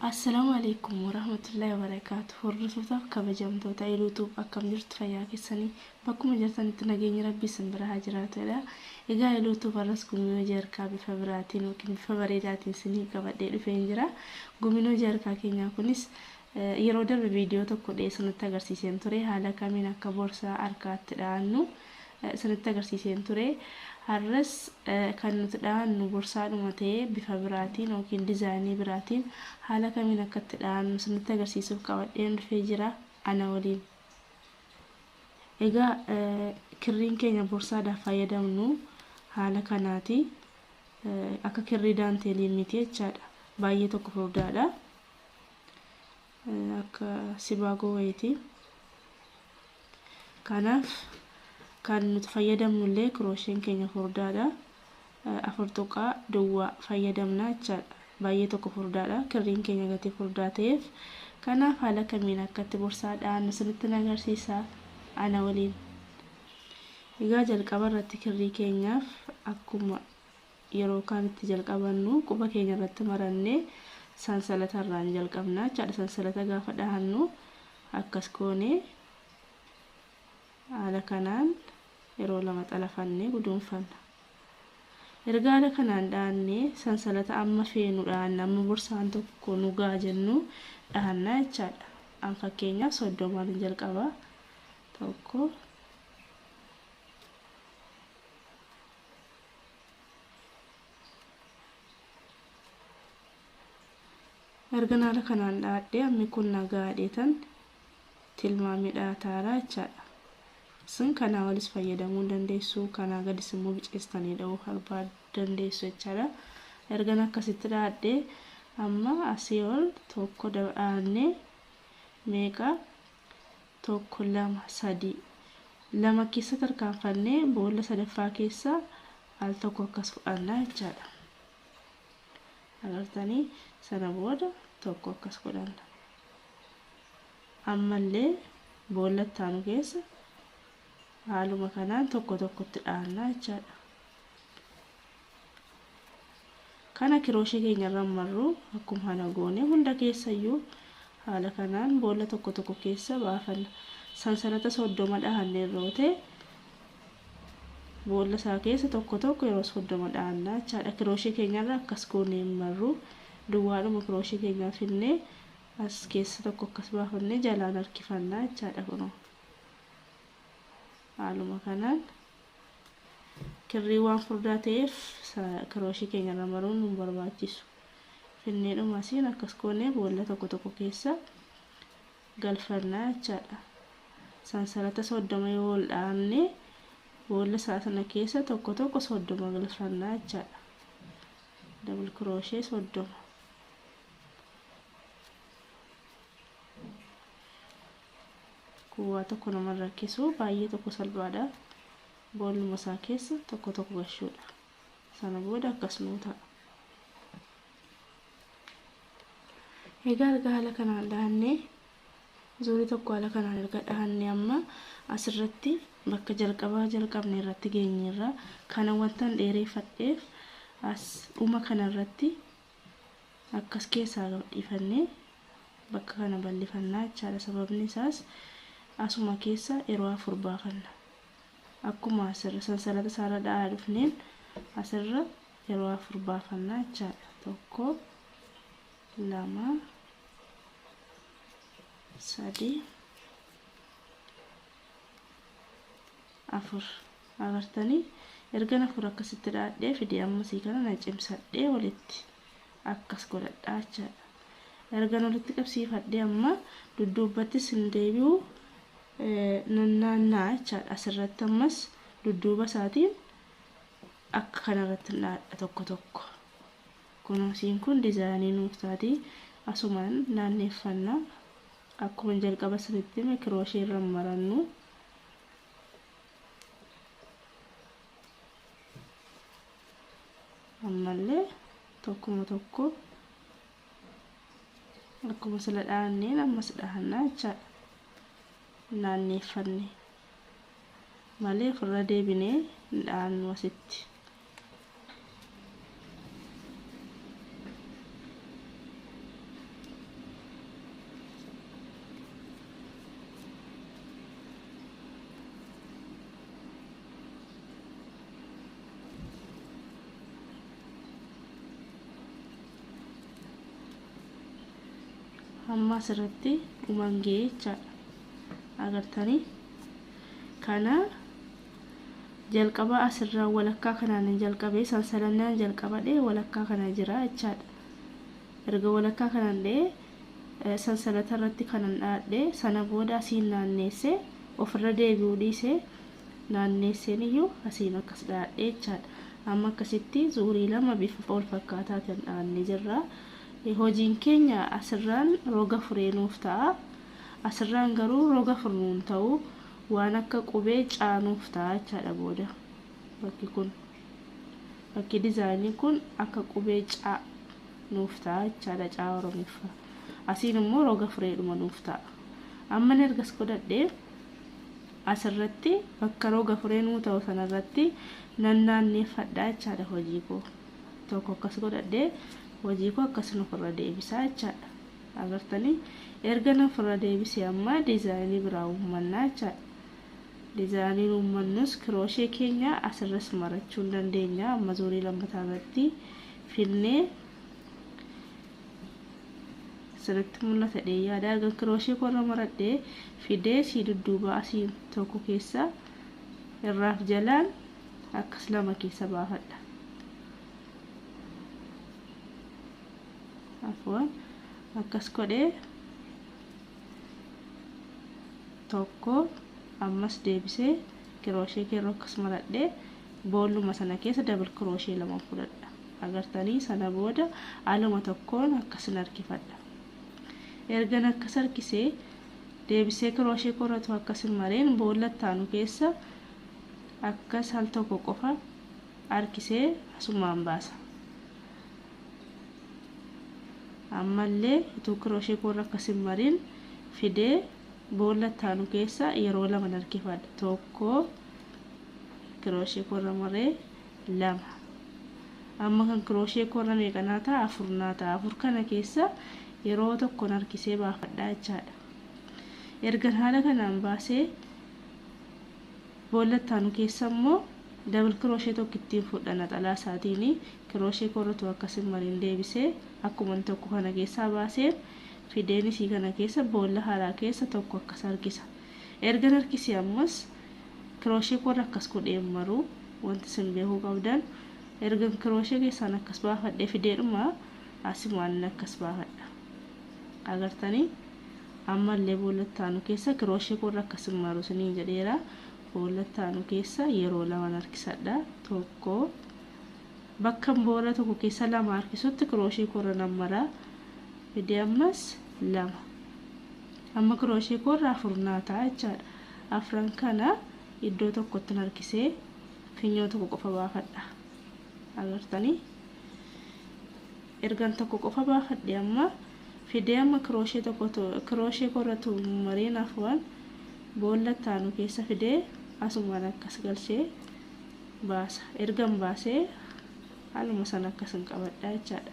Assalaamu alaikum warahmatullahi wabarakaatu. Hordoftoota kabajamtoota YouTube akkam jirtu fayyaa keessanii Bakkuma jirtanitti nageenyi Rabbii isin bira haa jiraatu jedha. Egaa Iluu Tube har'as Gumii Hojii Harkaa bifa biraatiin yookiin bifa bareedaatiin isiniif qabadhee dhufeen jira. Gumiin Hojii Harkaa keenyaa kunis yeroo darbe viidiyoo tokko dhihee isinitti agarsiiseen ture. Haala kamiin akka boorsaa harkaa itti dhahannu isinitti agarsiiseen ture. Har'as kan nuti dhahannu borsaadhuma ta'ee bifa biraatiin yookiin dizaayinii biraatiin haala kamiin akka itti dhahannu isinitti agarsiisuuf qabadheen dhufee jira. Ana waliin. Egaa kirriin keenya borsaadhaaf fayyadamnu haala kanaati. Akka kirrii daanteelii miti jechaadha. Baay'ee tokko furdaadha. Akka sibaagoo wayiiti. Kanaaf kan nuti fayyadamnu illee kiroosheen keenya furdaadha. afur tuqaa duwwaa fayyadamna jechaadha. Baay'ee tokko furdaadha. Kirriin keenya gatii furdaa ta'eef. Kanaaf haala kamiin akka itti borsaa dha'annu sinittin agarsiisa. Ana waliin. Egaa jalqaba irratti kirrii keenyaaf akkuma yeroo kaan itti jalqabannu quba keenya irratti marannee sansalata irraan jalqabna jechaadha. Sansalata gaafa dhahannu akkas goonee haala kanaan yeroo lama xalafannee guduunfanna. Erga haala kanaan dhaannee sansalata amma feenu dhaanna amma borsaan tokko nu ga'a jennu dhaanna jechaadha. An fakkeenyaaf soddomaanin jalqaba. Tokko ergan haala kanaan dhaadhee ammi kun na gaadheetan tilmaamni dhahataara jechaadha. Isin kanaa olis fayyadamuu hin dandeessu, kanaa gadis immoo biceessitanii dhahuu harbaa dandeessu jechaadha. Ergan akkasitti dhahadhe amma asii ol tokko dhahnee meeqa tokko lama sadii lama keessa tarkaanfannee boolla sadaffaa keessa al tokko akkas fudhanna jechaadha. Agartanii sana booda tokko akkas godhanna. Ammallee boolla itti aanu keessa haaluma kanaan tokko tokkotti dhaanna jechaadha. Kana kirooshee keenya irra marru akkuma kana goone hunda keessayyuu haala kanaan boolla tokko tokko keessa baafanna. Sansalata soddoma dhahanne irra ote boolla isaa keessa tokko tokko yeroo soddoma dhaanna jechaadha. Kirooshee keenya irra akkas goone hin marru duwwaadhuma kirooshee keenyaa finnee As keessa tokko akkas baafannee jalaan harkifanna jechaadha kunoo. Haaluma kanaan kirrii waan furdaa ta'eef kirooshii keenya irra maruun nu barbaachisu. Finnee dhuma asiin akkas goonee boolla tokko tokko keessa galfanna jechaadha. Sansalata soddoma yoo ol dhaabne boolla isaa sana keessa tokko tokko soddoma galfanna jechaadha. Dabal kirooshee soddoma. kun waa tokko nama rakkisu baay'ee tokko salphaadha booluma isaa keessa tokko tokko gashuudha sana booda akkas nuu ta'a egaa erga haala kanaan dhahannee zuurii tokko haala kanaan erga dhahannee amma asirratti bakka jalqabaa jalqabne irratti geenyeerra kana wantan dheereeffadheef as dhuma kanarratti akkas keessaa gadhiifannee bakka kana ballifanna jechaadha sababni isaas asuma keessa yeroo afur baafanna akkuma asirra sansalata isaarra dha'aa dhufneen asirra yeroo afur baafanna jechaadha tokko lama sadii afur Agartanii ergan afur akkasitti dhaadhee fide ammasii kana na cimsadhee walitti akkas godhadhaa jechaadha ergan walitti qabsiifadhee amma dudduubbattis hin deebi'u nannaanna'a jechaadha asirratti ammas dudduuba isaatiin akka kanarratti hin dhaadha tokko tokko kunuunsiin kun dizaayinii nuuf taati asumaan naanneeffanna akkuma jalqaba sanitti hime kirooshiirra marannu ammallee tokkuma tokko akkuma sila dhaanneen ammas dhaannaa jechaadha naanneeffanne malee ofirra deebinee hin dhaannu asitti amma asirratti dhumaan ga'ee jechaadha agartanii kana Jalqaba as irra walakkaa kanaanin jalqabe sansalannaan jalqaba dhe walakkaa kana jira jechaadha. Erga walakkaa kanan dhe sansalata irratti kanan dhaadhe sana booda asiin naanneesse ofirra deebi'uu dhiise naanneesseen iyyuu asiin akkas dhaadhe jechaadha. Amma akkasitti zuurii lama bifa walfakkaataatiin dhaanne jirra. Hojiin keenya asirraan roga furee nuuf ta'a. Asirraan garuu roga furnu hin ta'u. Waan akka qubee C nuuf ta'a jechaadha booda. Bakki kun bakki dizaayinii kun akka qubee C nuuf ta'a jechaadha C Oromiffa. Asiin immoo roga fireedhuma nuuf ta'a. Amma inni ergas godhadhe asirratti bakka roga firee nuu ta'u sanarratti nan naanneeffadha jechaadha hojii koo. Tokko akkas godhadhe hojii koo akkasin ofirra deebisaa jechaadha. Agartanii erga na ofirra deebise amma design biraa uummannaa jechaadha. Design uummannus crochet keenya asirras marachuun dandeenya amma zuurii lammataa irratti finnee sirritti mul'ata dhee yaada erga crochet korra maradhee fidee sii dudduubaa asiin tokko keessa irraaf jalaan akkas lama keessa baafadha. afwan akkas godhe tokko ammas deebisee kirooshee keerroo akkas maradhee boolluma sana keessa dabal kirooshee lama fudhadha agartanii sana booda aluma tokkoon akkasin harkifadha ergan akkas harkisee deebisee kirooshee korratu akkasin mareen boolla ittaanu keessa akkas al tokko qofa harkisee asumaan baasa Ammallee utuu kirooshee koo irra akkas hin marin fidee boolla itti aanu keessa yeroo lama nan harkifadha. Tokko kirooshee koo irra maree lama. Amma kan kirooshee koo irra meeqa naa ta'a? Afur naa ta'a. Afur kana keessa yeroo tokko nan harkisee baafadha jechaadha. Ergan haala kanaan baasee Boolla itti aanu keessa immoo double crochet tokko ittiin fudha naxalaa isaatiin crochet koo irra tuu akkasin mariin deebisee akkuman tokko kana keessaa baaseen fideen isii kana keessa boolla haraa keessa tokko akkas harkisa ergan harkisee ammas crochet koo irra akkas godheen maruu wanti isin beekuu qabdan ergan crochet keessaan akkas baafadhee fideedhuma asimaan akkas baafadha. Agartanii? Ammallee boolla itti aanu keessa kirooshee koo irra akka isin maru isiniin jedheera. Boolla itti aanu keessa yeroo laman harkisadha. Tokko bakkan boolla tokko keessa lama harkisutti kirooshee koo irra nan mara. Fidee ammas lama. Amma kirooshee koo irra afur naa ta'a jechaadha. Afran kana iddoo tokkotti harkisee finyoo tokko qofa baafadha. agartanii ergan tokko qofa baafadhe amma fidee amma kirooshee tokko kirooshee koo irratti maree naaf waan boolla taanu keessa fidee asumaan akkas galchee baasa ergan baasee haaluma san akkasin qabadhaa jechaadha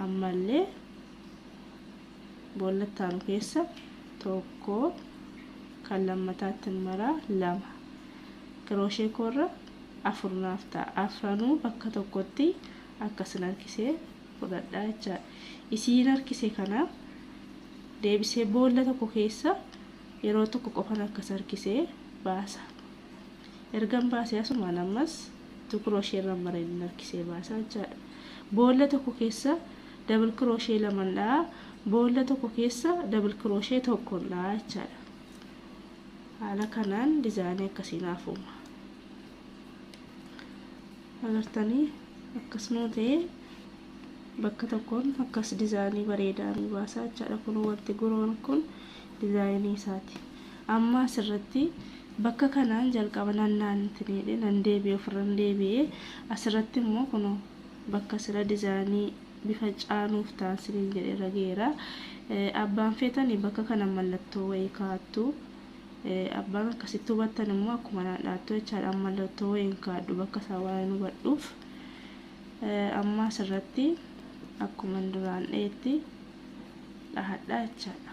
ammallee boolla itti aanu keessa tokko kan lammataatti maraa lama kirooshee koorra afur naaf ta'a afranuu bakka tokkotti akkasin harkisee fudhadhaa jechaadha isiin harkise kana deebisee boolla tokko keessa yeroo tokko qofan akkas harkisee baasa ergan baasee asumaan ammas tu kirooshee irra mareen harkisee baasaa jechaadha boolla tokko keessa double crochet laman dha'a boolla tokko keessa double crochet tokkon dha'a jechaadha haala kanaan dizaayinii akkasii naaf uuma agartanii akkasuma ta'ee bakka tokkoon akkas dizaayinii bareedaa nu baasaa jechaadha kun wanti guroon kun dizaayinii isaati amma asirratti bakka kanaan jalqaba nannaan ittiin hidhe nan deebi'e ofirran deebi'e asirratti immoo kun bakka sira dizani bifa caa nuuf taa sinin jedhe irra geera abbaan feetani bakka kana mallattoo wayii kaattu abbaan akkasitti hubattan immoo akkuma naan dhaattu jechaadha an mallattoo wayiin kaadhu bakka isaa waan hubadhuuf amma asirratti akkuma duraan dheetti dhahadha jechaadha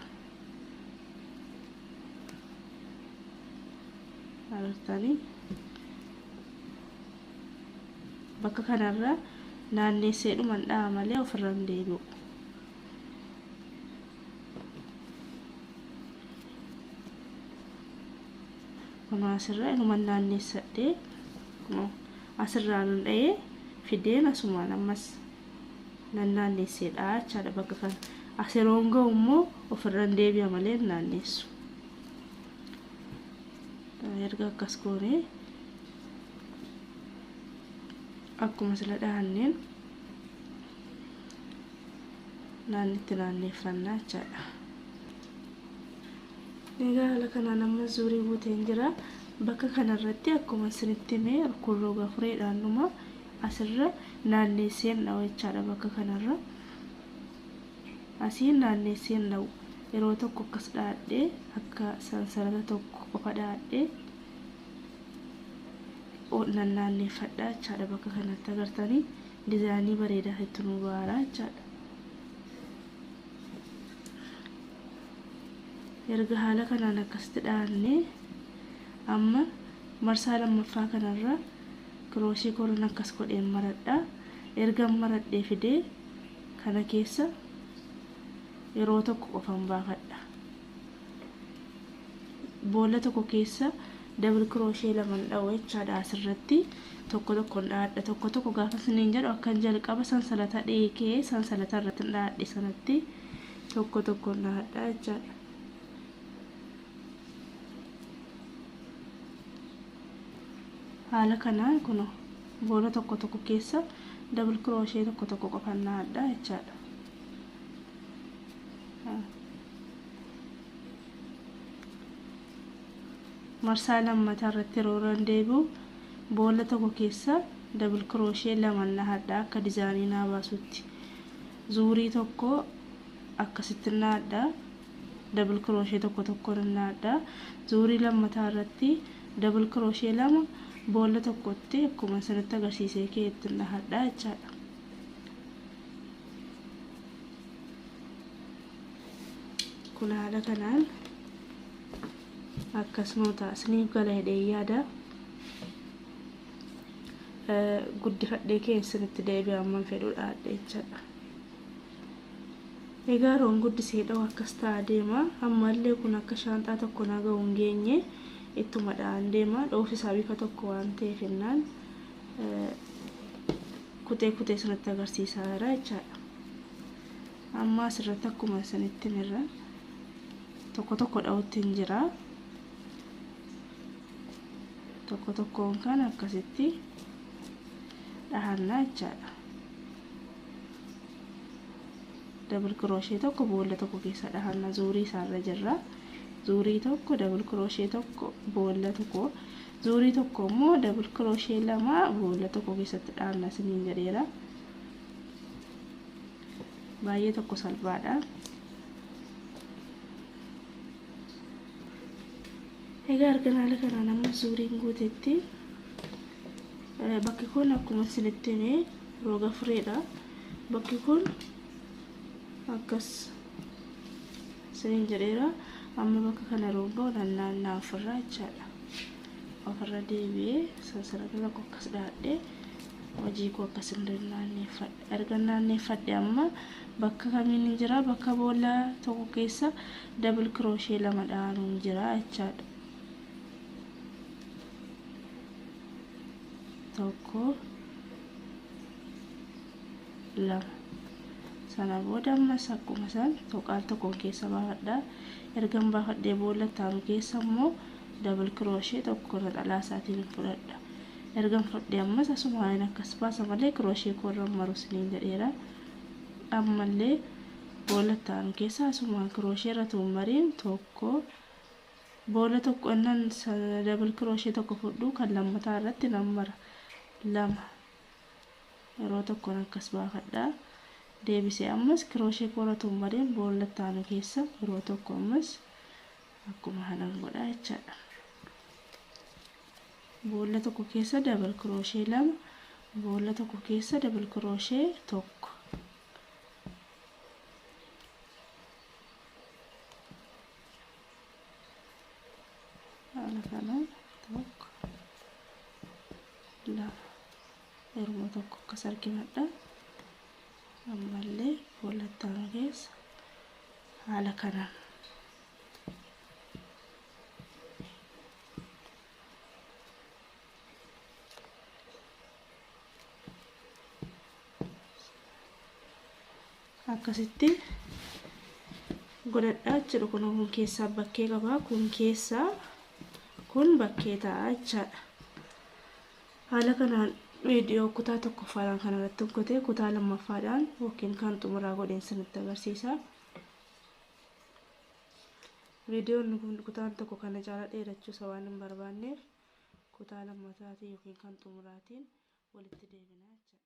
argitanii Bakka kanarra naanneesseedhuman dha'a malee ofirra hin deebi'u. Kunoo asirra inuman naanneessadhee kunoo asirraa nan dha'ee fideen asumaan ammas nan naanneessee dha'a jechaadha bakka kana. As yeroon ga'u immoo ofirra hin deebi'a malee hin naanneessu. Erga akkas goonee akkuma sila dhahanneen naannitti naanneeffannaa jechaadha. Egaa haala kanaan amma zuurii guuteen jira. Bakka kanarratti akkuma isinitti hime kun roga fureedhaan dhuma asirra naanneesseen dha'u jechaadha bakka kanarra. Asiin naanneesseen dha'u yeroo tokko akkas dha'adhee akka sansarara tokko qofa dha'adhee nan naanneeffadha jechaadha bakka kanatti agartanii dizaayinii bareedaa itti nu baara jechaadha. erga haala kanaan akkasitti dhaanne amma marsaa lammaffaa kanarra kirooshii koran akkas godheen maradha erga maradhee fidee kana keessa yeroo tokko qofan baafadha boolla tokko keessa double crochet laman dha'u jechaadha asirratti tokko tokkon dhaadha tokko tokko gaafa siniin jedhu akkan jalqaba sansalata dheekee sansalata irratti dhaadhe sanatti tokko tokkon dhaadha jechaadha. haala kanaan kun boolla tokko tokko keessa double crochet tokko tokko qofan dhaadha jechaadha. marsaa lammataa irratti yeroo irra deebi'u boolla tokko keessa dabil kirooshee lama nahadha akka dizaayinii naa baasutti zuurii tokko akkasitti nahadha dabil kirooshee tokko tokko nahadha zuurii lammataa irratti dabil kirooshee lama boolla tokkotti akkuma isinitti agarsiisee keetti nahadha jechaadha. kun haala kanaan akkasuma ta'a isiniif gala hidhee yaada guddifadhee kee isinitti deebi'e amman fedhuudha jechaadha egaa roon guddisee dha'u akkas ta'a deema ammallee kun akka shaanxaa tokko na ga'u hin geenye ittuma dha'an deema dhoofisaa bifa tokko waan ta'eef innaan kutee kutee sirratti agarsiisaa jira jechaadha. Amma asirratti akkuma isinitti mirra tokko tokko dha'utti hin jira. Tokko tokkoon kan akkasitti dhahannaa jechaadha. Dabal kirooshee tokko boolla tokko keessa dhahanna zuurii isaarra jirra. Zuurii tokko dabal kirooshee tokko boolla tokko zuurii tokko immoo double crochet lama boolla tokko keessatti dhaabna isiniin jedheera baay'ee tokko salphaadha egaa argan haala kanaan amma zuuriin guutetti bakki kun akkuma isinitti himee roga fureedha bakki kun akkas isiniin jedheera amma bakka kana yeroon ga'u nan naanna'a ofirraa jechaadha ofirra deebi'ee sansalatala koo akkas dhaadhee hojii koo akkas hin naanneeffadhe erga naanneeffadhe amma bakka kamiin hin jira bakka boolla tokko keessa dabil kirooshee lama dha'anuun jira jechaadha tokko lama sana booda ammas akkuma san tuqaal tokkoon keessa baafadha ergan baafadhee boolla taanu keessa immoo dabal kirooshee tokko naxalaa isaatiin fudhadha ergan fudhee ammas asumaan akkas baasa malee kirooshee koorra maru siniin jedheera ammallee boolla taanu keessa asumaan kirooshee irra tuun mariin tokko boolla tokko annan dabal kirooshee tokko fudhu kan lammataa irratti nan mara lama Yeroo tokkon akkas baafadha. Deebisee ammas kirooshee koo irra tummadeen boolla itti aanu keessa yeroo tokko ammas akkuma kanan godha jechaadha. Boolla tokko keessa dabal kirooshee lama, boolla tokko keessa dabal kirooshee tokko. Haala kanaan tokko lama. Garuma tokko akkas argimadha. Ammallee fuula ittaanu keessa haala kanaan. akkasitti godhadhaa jechuudha kun kun keessaa bakkee qabaa kun keessaa kun bakkee ta'a jechaadha. Haala kanaan viidiyoo kutaa tokkoffaadhaan kana irratti hojjetee kutaa lammaffaadhaan yookiin kan xumuraa godheen sinitti agarsiisa. Viidiyoon kun kutaan tokko kana caala dheerachuu isa waan hin barbaanneef kutaa lammataatiin yookiin kan xumuraatiin walitti deebina jechuudha.